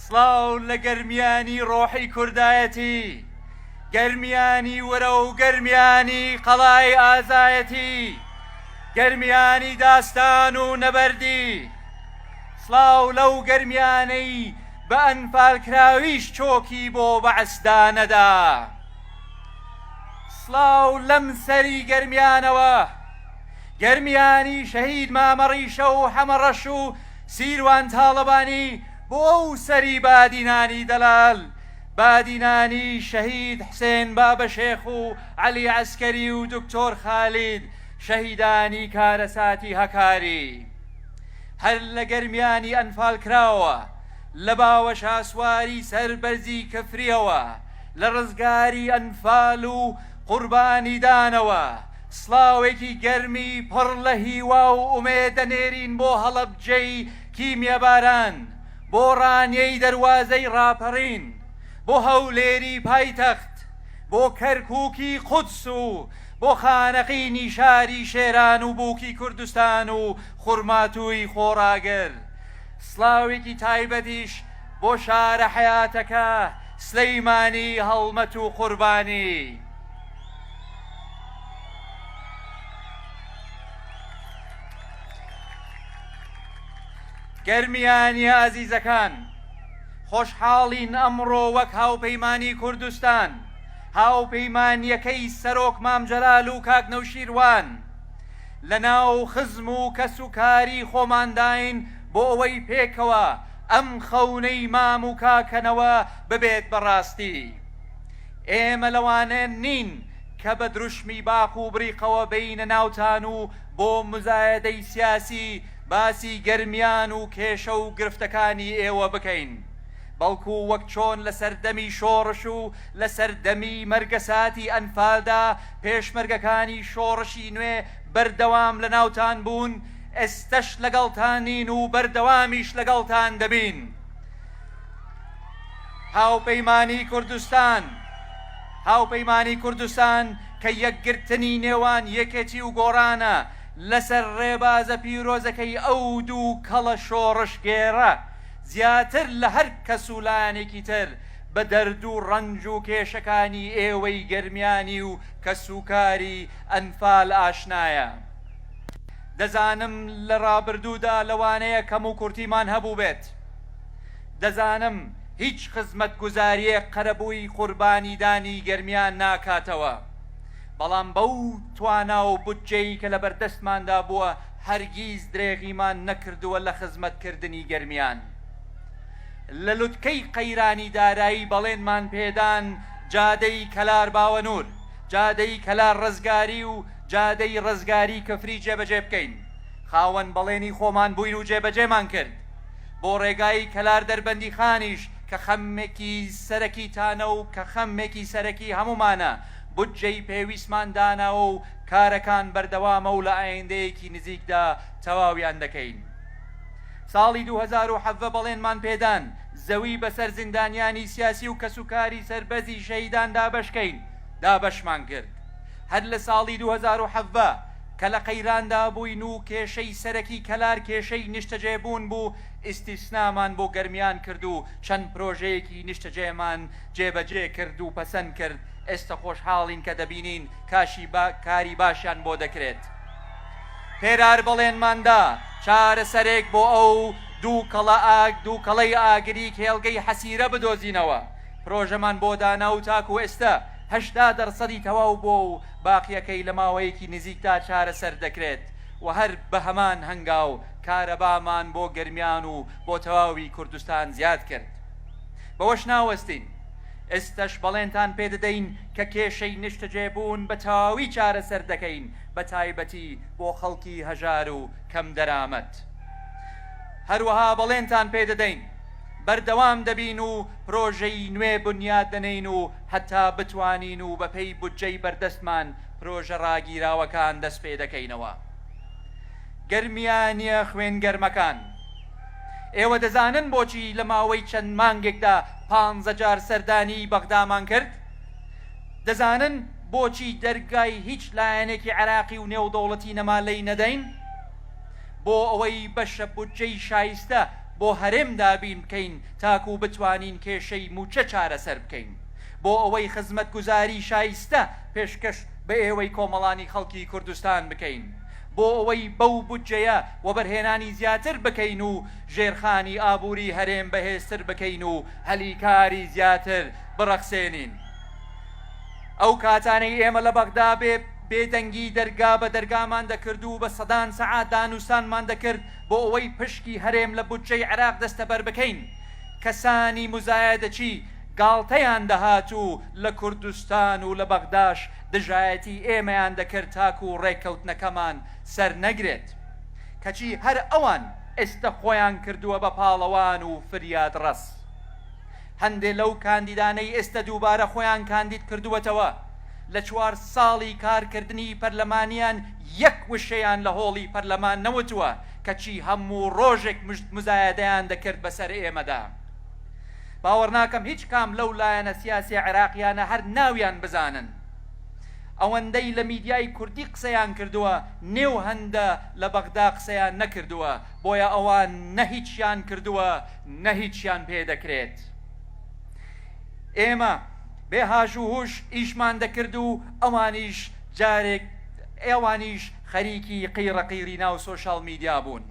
سڵاو لە گەرمیانی ڕۆحی کوردایەتی، گەرمیانی ورە و گەرمیانی قەڵای ئازایەتی، گەرمیانی داستان و نەبەردی. سڵاو لەو گەرمیانەی بە ئەنفالکراویش چۆکی بۆ بەعس دانەدا. سڵاو لەم سەری گەرمیانەوە، گەرمیانی شەهید مامە ڕیشە و حەمە ڕەش و سیروان تاڵەبانی، بۆ ئەو سەری بادینانی دەلال، بادینانی شەهید حسێن بابەشێخ و عەلی عەسکەری و دکتۆر خالید، شەهیدانی کارەساتی هەکاری هەر لە گەرمیانی ئەنفالکراوە لە باوە شاسواری سەر بەرزی کفریەوە لە رزگاری ئەنفال و قوربانیدانەوە سڵاوێکی گەرمی پڕ لە هیوا و ئومێدەنێرین بۆ هەڵەبجەی کیمیە باران بۆ ڕانیەی دەروازەی ڕاپەڕین، بۆ هەولێری پایتەخت، بۆ کەرکوکی قودس و بۆ خانەقینی شاری شێران و بوکی کوردستان و خورماتووی خۆڕاگر. سڵاوێکی تایبەتیش بۆ شارە حەیاتەکە سلیمانی هەڵمەت و قوربانی. گەرمیانیە ئازیزەکان، خۆشحاڵین ئەمڕۆ وەک هاوپەیمانی کوردستان، هاوپەیمانیەکەی سەرۆک مام جەلال و کاک نەوشیروان، لەناو خزم و کەس و کاری خۆمانداین بۆ ئەوەی پێکەوە ئەم خەونەی مام و کاکە نەوە ببێت بە ڕاستی. ئێمە لەوانە نین کە بە دروشمی باق و بریقەوە بێینە ناوتان و بۆ مزایەدەی سیاسی باسی گەرمیان و کێشە و گرفتەکانی ئێوە بکەین، بەڵکو وەک چۆن لە سەردەمی شۆڕش و لە سەردەمی مەرگەساتی ئەنفالدا پێشمەرگەکانی شۆڕشی نوێ بەردەوام لە ناوتان بوون، ئێستەش لەگەڵتانین و بەردەوامیش لەگەڵتان دەبین. هاوپەیمانی کوردستان هاوپەیمانی کوردستان کە یەکگرتنی نێوان یەکێتی و گۆڕانە لەسەر ڕێبازە پیرۆزەکەی ئەو دوو کەڵە شۆڕشگێڕە، زیاتر لە هەر کەس و لایەنێکی تر بە دەرد و ڕەنج و کێشەکانی ئێوەی گەرمیانی و کەسوکاری ئەنفال ئاشنایە. دەزانم لە ڕابردوودا لەوانەیە کەموکورتیمان هەبووبێت، دەزانم هیچ خزمەتگوزارییەک قەرەبووی قوربانیدانی گەرمیان ناکاتەوە، بەڵام بەو توانا و بودجەی کە لەبەردەستماندا بووە هەرگیز درێغیمان نەکردووە لە خزمەتکردنی گەرمیان. لە لوتکەی قەیرانی دارایی بەڵێنمان پێدان جادەی کەلار باوەنوور، جادەی کەلار ڕزگاری و جادەی ڕزگاری کفری جێبەجێ بکەین، خاوەن بەڵێنی خۆمان بووین و جێبەجێمان کرد. بۆ ڕێگای کەلار دەربەندیخانیش کە خەمێکی سەرەکیتانە و کە خەمێکی سەرەکی هەموومانە، بودجەی پێویستمان داناوە و کارەکان بەردەوامە و لە ئایندەیەکی نزیکدا تەواویان دەکەین. ساڵی دوو هەزار و حەڤە بەڵێنمان پێدان زەوی بەسەر زیندانیانی سیاسی و کەسوکاری سەربەزی شەهیدان دابەشکەین، دابەشمان کرد. هەر لە ساڵی دوو هەزار و حەڤدە کە لە قەیراندا بووین و کێشەی سەرەکی کەلار کێشەی نیشتەجێبوون بوو، ئیستیسنامان بۆ گەرمیان کرد و چەند پرۆژەیەکی نیشتەجێمان جێبەجێ کرد و پەسەند کرد، ئێستە خۆشحاڵین کە دەبینین کاشی کاری باشیان بۆ دەکرێت. پێرار بەڵێنمان دا چارەسەرێک بۆ ئەو دووکەڵە ئاگ دووکەڵەی ئاگری کێڵگەی حەسیرە بدۆزینەوە، پرۆژەمان بۆ دانا و تاکوو ئێستە هەشتا دەرسەدی تەواو بووە و باقییەکەی لە ماوەیەکی نزیکدا چارەسەر دەکرێت و هەر بە هەمان هەنگاو کارەبامان بۆ گەرمیان و بۆ تەواوی کوردستان زیاد کرد. بەوەش ناوەستین، ئێستەش بەڵێنتان پێ دەدەین کە کێشەی نیشتەجێبوون بە تەواوی چارەسەر دەکەین بە تایبەتی بۆ خەڵکی هەژار و کەمدەرامەت. هەروەها بەڵێنتان پێ دەدەین بەردەوام دەبین و پرۆژەی نوێ بنیات دەنێین و هەتا بتوانین و بەپێی بودجەی بەردەستمان پرۆژە ڕاگیراوەکان دەستپێدەکەینەوە. گەرمیانییە خوێنگەرمەکان، ئێوە دەزانن بۆچی لە ماوەی چەند مانگێکدا پانزە جار سەردانیی بەغدامان کرد؟ دەزانن بۆچی دەرگای هیچ لایەنێکی عێراقی و نێودەوڵەتی نەما لێی نەدەین؟ بۆ ئەوەی بەشە بودجەی شایستە بۆ هەرێم دابین بکەین تاکوو بتوانین کێشەی مووچە چارەسەر بکەین، بۆ ئەوەی خزمەتگوزاری شایستە پێشکەش بە ئێوەی کۆمەڵانی خەڵکی کوردستان بکەین، بۆ ئەوەی بەو بودجەیە وەبەرهێنانی زیاتر بکەین و ژێرخانی ئابووری هەرێم بەهێزتر بکەین و هەلی کاری زیاتر بڕەخسێنین. ئەو کاتانەی ئێمە لە بەغدا بێ بێدەنگی دەرگا بە دەرگامان دەکرد و بە سەدان سەعات دانوستانمان دەکرد، بۆ ئەوەی پشکی هەرێم لە بودجەی عێراق دەستەبەر بکەین، کەسانی موزایەدەچی گاڵتەیان دەهات و لە کوردستان و لە بەغداش دژایەتی ئێمەیان دەکرد تاکو ڕێککەوتنەکەمان سەرنەگرێت، کەچی هەر ئەوان ئێستە خۆیان کردووە بە پاڵەوان و فریادڕەس. هەندێ لەو کاندیدانەی ئێستە دووبارە خۆیان کاندید کردووەتەوە، لە چوار ساڵی کارکردنی پەرلەمانیان یەک وشەیان لە هۆڵی پەرلەمان نەوتووە، کەچی هەموو ڕۆژێک مژد مزایەدەیان دەکرد بەسەر ئێمەدا. باوەڕناکەم هیچ کام لەو لایەنە سیاسیە عێراقیانە هەر ناویان بزانن. ئەوەندەی لە میدیای کوردی قسەیان کردووە، نێو هەندە لە بەغدا قسەیان نەکردووە، بۆیە ئەوان نە هیچیان کردووە، نە هیچیان پێ دەکرێت. ئێمە بێ هاژ و هوش ئیشمان دەکرد و ئەوانیش جارێک ئەوانیش خەریکی قیڕە قیڕی ناو سۆشیال میدیا بوون.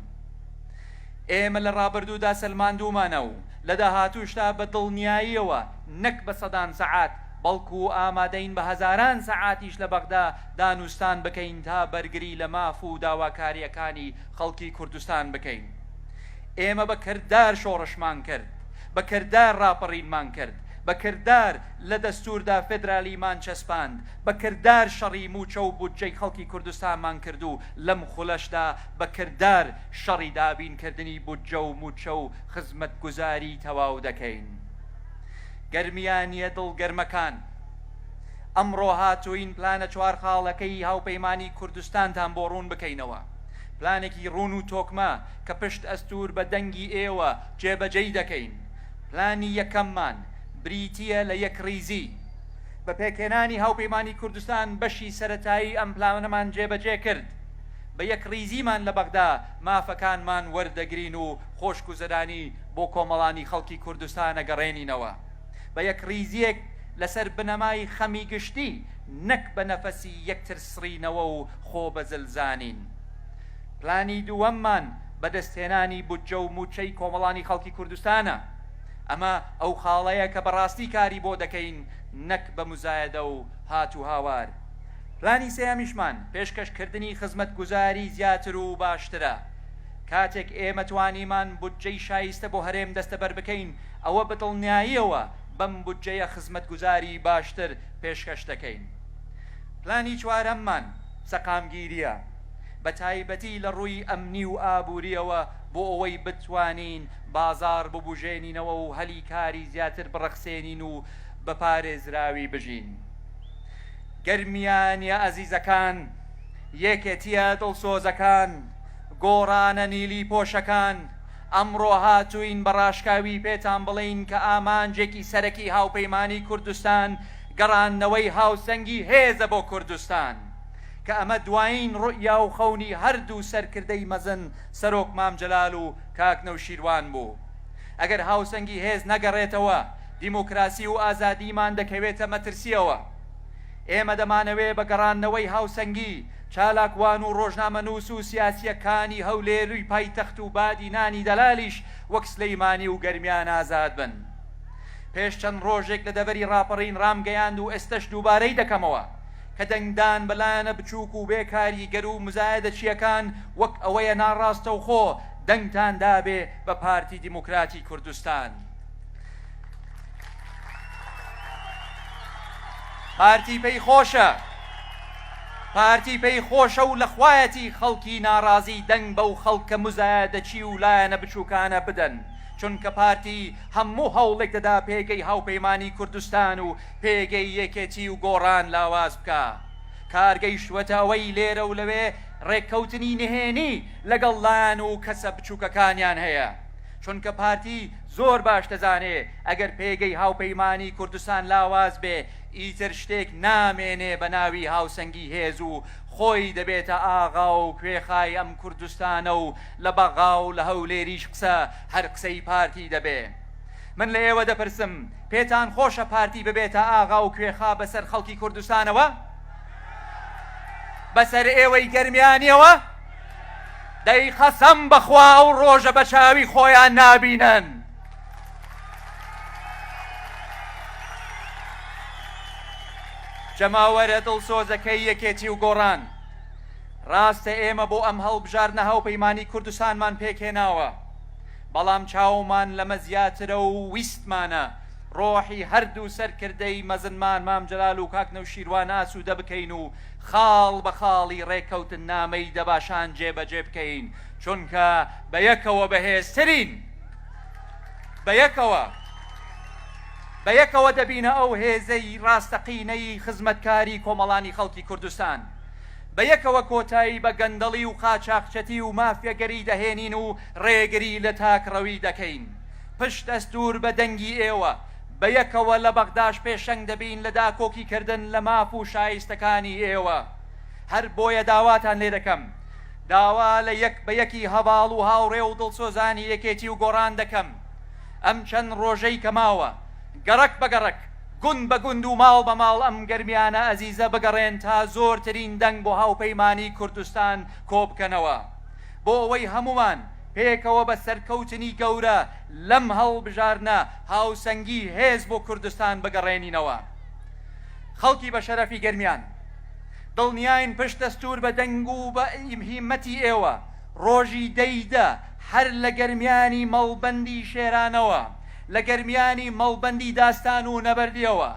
ئێمە لە ڕابردوودا سەلماندوومانە و لە داهاتووشدا بە دڵنیاییەوە نەک بە سەدان سەعات بەڵکو ئامادەین بە هەزاران سەعاتیش لە بەغدا دانوستان بکەین تا بەرگری لە ماف و داواکارییەکانی خەڵکی کوردستان بکەین. ئێمە بە کردار شۆڕشمان کرد، بە کردار ڕاپەڕینمان کرد، بە کردار لە دەستووردا فێدرالیمان چەسپاند، بە کردار شەڕی مووچە و بودجەی خەڵکی کوردستانمان کرد و لەم خولەشدا بە کردار شەڕی دابینکردنی بودجە و مووچە و خزمەتگوزاری تەواو دەکەین. گەرمیانییە دڵگەرمەکان، ئەمڕۆ هاتووین پلانە چوار خاڵەکەی هاوپەیمانی کوردستانتان بۆ ڕوون بکەینەوە. پلانێکی ڕوون و تۆکمە کە پشتئەستوور بە دەنگی ئێوە جێبەجێی دەکەین. پلانی یەکەممان بریتییە لە یەکڕیزی. بە پێکهێنانی هاوپەیمانی کوردستان بەشی سەرەتایی ئەم پلانەمان جێبەجێ کرد. بە یەکڕیزیمان لە بەغدا مافەکانمان وەردەگرین و خۆشگوزەرانی بۆ کۆمەڵانی خەڵکی کوردستان ئەگەڕێنینەوە. بە یەکڕیزییەک لەسەر بنەمای خەمی گشتی نەک بە نەفەسی یەکترسڕینەوە و خۆبەزل زانین. پلانی دووەممان بەدەستهێنانی بودجە و مووچەی کۆمەڵانی خەڵکی کوردستانە. ئەمە ئەو خاڵەیە کە بەڕاستی کاری بۆ دەکەین نەک بە موزایەدە و هات و هاوار. پلانی سێیەمیشمان پێشکەشکردنی خزمەتگوزاری زیاتر و باشترە. کاتێک ئێمە توانیمان بودجەی شایستە بۆ هەرێم دەستەبەر بکەین، ئەوە بەدڵنیاییەوە بەم بودجەیە خزمەتگوزاری باشتر پێشکەش دەکەین. پلانی چوارەممان سەقامگیرییە، بە تایبەتی لە ڕووی ئەمنی و ئابوورییەوە بۆ ئەوەی بتوانین بازاڕ ببوژێنینەوە و هەلی کاری زیاتر بڕەخسێنین و بە پارێزراوی بژین. گەرمیانییە ئەزیزەکان، یەکێتییە دڵسۆزەکان، گۆڕانە نیلی پۆشەکان، ئەمڕۆ هاتووین بە ڕاشکاوی پێتان بڵێین کە ئامانجێکی سەرەکی هاوپەیمانیی کوردستان گەڕاندنەوەی هاوسەنگی هێزە بۆ کوردستان، کە ئەمە دوایین روئیا و خەونی هەردوو سەرکردەی مەزن سەرۆک مام جەلال و کاک نەوشیروان بوو. ئەگەر هاوسەنگی هێز نەگەڕێتەوە، دیموکراسی و ئازادیمان دەکەوێتە مەترسییەوە. ئێمە دەمانەوێ بە گەڕاندنەوەی هاوسەنگی، چالاکوان و رۆژنامەنووس و سیاسییەکانی هەولێروی پایتەخت و بادینانی دەلالیش وەک سلیمانی و گەرمیان ئازاد بن. پێش چەند ڕۆژێک لە دەڤەری ڕاپەڕین ڕامگەیاند و ئێستەش دووبارەی دەکەمەوە کە دەنگدان بە لایەنە بچووک و بێ کاریگەر و مزایەدەچییەکان وەک ئەوەیە ناڕاستەوخۆ دەنگتان دابێ بە پارتی دیموکراتی کوردستان. پارتی پێی خۆشە پارتی پێی خۆشە و لەخوایەتی خەڵکی ناڕازی دەنگ بەو خەڵکە مزایەدەچی و لایەنە بچووکانە بدەن. چونکە پارتی هەموو هەوڵێک دەدا پێگەی هاوپەیمانی کوردستان و پێگەی یەکێتی و گۆڕان لاواز بکا کار گەیشتووەتە ئەوەی لێرە و لەوێ ڕێککەوتنی نهێنی لەگەڵ لایەن و کەسە بچووکەکانیان هەیە چونکە پارتی زۆر باش دەزانێ ئەگەر پێگەی هاوپەیمانی کوردستان لاواز بێ ئیتر شتێک نامێنێ بە ناوی هاوسەنگی هێز و خۆی دەبێتە ئاغا و کوێخای ئەم کوردستانە و لە بەغا و لە هەولێریش قسە هەر قسەی پارتی دەبێ. من لە ئێوە دەپرسم پێتان خۆشە پارتی ببێتە ئاغا و کوێخا بەسەر خەڵکی کوردستانەوە؟ بەسەر ئێوەی گەرمیانیەوە؟ دەی قەسەم بەخوا ئەو ڕۆژە بە چاوی خۆیان نابینن. جەماوەرە دڵسۆزەکەی یەکێتی و گۆڕان ڕاستە ئێمە بۆ ئەم هەڵبژاردنە هاوپەیمانی کوردستانمان پێکهێناوە، بەڵام چاومان لەمە زیاترە و ویستمانە ڕۆحی هەردوو سەرکردەی مەزنمان مام جەلال و کاک نەوشیروان ئاسوودە بکەین و خاڵ بە خاڵی ڕێککەوتننامەی دەباشان جێبەجێ بکەین، چونکە بە یەکەوە بەهێزترین. بە یەکەوە. بەیەکەوە دەبینە ئەو هێزەی ڕاستەقینەی خزمەتکاری کۆمەڵانی خەڵکی کوردستان. بەیەکەوە کۆتایی بە گەندەڵی و قاچاخچەتی و مافیەگەری دەهێنین و ڕێگری لە تاکڕەوی دەکەین. پشت ئەستوور بە دەنگی ئێوە، بەیەکەوە لە بەغداش پێشەنگ دەبین لە داکۆکیکردن لە ماف و شایستەکانی ئێوە. هەر بۆیە داواتان لێ دەکەم، داوا لە یەک بە یەکی هەڤاڵ و هاوڕێ و دڵسۆزانی یەکێتی و گۆڕان دەکەم، ئەم چەند ڕۆژەی کە ماوە، گەڕەک بە گەڕەک، گوند بە گوند و ماڵ بە ماڵ ئەم گەرمیانە ئەزیزە بگەڕێن تا زۆرترین دەنگ بۆ هاوپەیمانیی کوردستان کۆبکەنەوە، بۆ ئەوەی هەموومان پێکەوە بە سەرکەوتنی گەورە لەم هەڵبژاردنە هاوسەنگی هێز بۆ کوردستان بگەڕێنینەوە. خەڵکی بەشەرەفی گەرمیان، دڵنیاین پشت دەستوور بە دەنگ و بە هیممەتی ئێوە، ڕۆژی دە ی دە هەر لە گەرمیانی مەڵبەندی شێرانەوە، لە گەرمیانی مەڵبەندی داستان و نەبەردیەوە،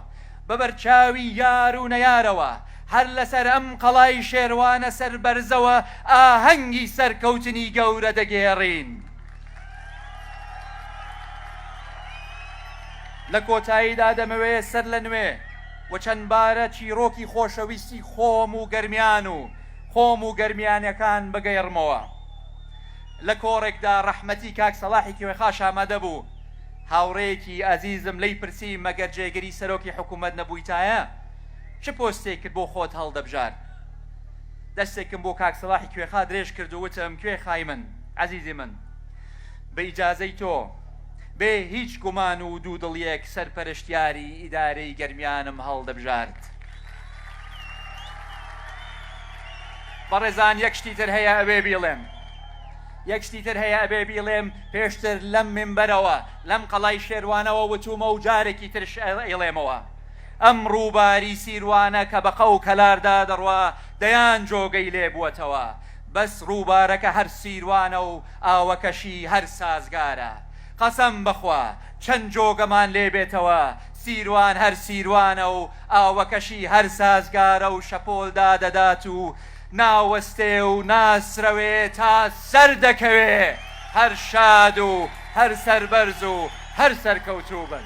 بە بەرچاوی یار و نەیارەوە، هەر لەسەر ئەم قەڵای شێروانە سەربەرزەوە ئاهەنگی سەرکەوتنی گەورە دەگێڕین. لە کۆتاییدا دەمەوێ سەرلەنوێ و چەندبارە چیڕۆکی خۆشەویستی خۆم و گەرمیان و خۆم و گەرمیانەکان بگێڕمەوە. لە کۆڕێکدا ڕەحمەتی کاک سەڵاحی کوێخاش ئامادە بوو، هاوڕێیەکی ئازیزم لێی پرسی مەگەر جێگری سەرۆکی حکوومەت نەبوویتایە، چ پۆستێکت بۆ خۆت هەڵدەبژارد؟ دەستێکم بۆ کاک سەڵاحی کوێخا درێژ کرد و وتم کوێخای من، ئەزیزی من، بە ئیجازەی تۆ، بێ هیچ گومان و دوودڵییەک سەرپەرشتیاری ئیدارەی گەرمیانم هەڵدەبژارد. بەڕێزان یەک شتی تر هەیە ئەوێ بیڵێم یەک شتی تر هەیە ئەبێ بیڵێم پێشتر لەم منبەرەوە لەم قەڵای شێروانەوە وتومە و جارێکی ترش ئەیڵێمەوە ئەم ڕووباری سیروانە کە بەقە و کەلاردا دەڕوا دەیان جۆگەی لێ بووەتەوە بەس ڕووبارەکە هەر سیروانە و ئاوەکەشی هەر سازگارە قەسەم بەخوا چەند جۆگەمان لێ بێتەوە، سیروان هەر سیروانە و ئاوەکەشی هەر سازگارە و شەپۆل دادەدات و ناوەستێ و ناسرەوێ تا سەر دەکەوێ، هەر شاد و هەر سەربەرز و هەر سەرکەوتوو بن.